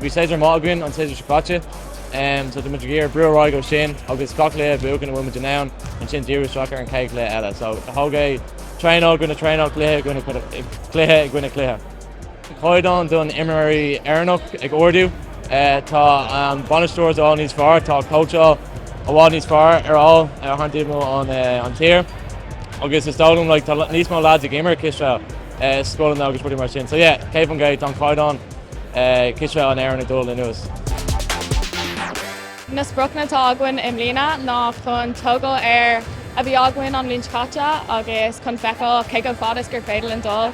Bhí séasúr maith againn, an séasúr seo caite, so tá muid ag iarraidh brú ar aghaidh ó sin agus gach cluiche a bhuachan a bhfuil muid in ann ansin díriú isteach ar an chéad chluiche eile. So tóg é traenáil i gcoinne traenáil, cluiche i gcoinne cluiche i gcoinne cluiche. Caighdeán den imreoir Éireannach ag ardú. Tá na bainisteoirí i bhfad níos fearr, tá cóitseáil i bhfad níos fearr ar fháil thar timpeall an tír agus is dóigh liom tá níos mó lads ag imirt cispheil i scoileanna agus rudaí mar sin. So yeah, ceapaim go, tá an caighdeán cispheile in Éirinn ag dul in airde suas. Na spriocanna atá againn i mbliana ná chun tógáil ar a bhí againn an bhliain seo caite agus chun feiceáil cé chomh fada is gur féidir linn dul.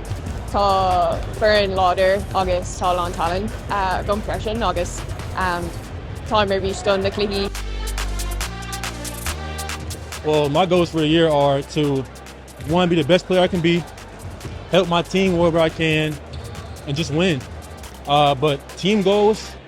Tá foireann láidir agus tá a lán talent againn freisin agus táim ar bís don na cluichí. Well my goals for the year are to one be the best player I can be, help my team wherever I can and just win. Uh, but team goals,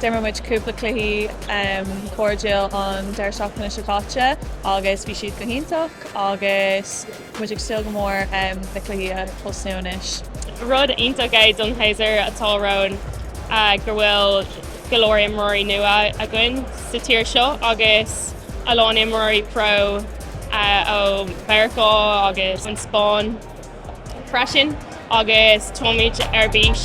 D'imir muid cúpla cluichí cairdiúil an deireadh seachtaine seo caite agus bhí siad go hiontach agus muid ag súil go mór le na cluichí a thosnú anois. Rud iontach é don séasúr atá romhainn go bhfuil go leor imreoirí nua againn sa tír seo agus a lán imreoirí pro ó Mheiriceá agus an Spáinn freisin agus táimid ar bís.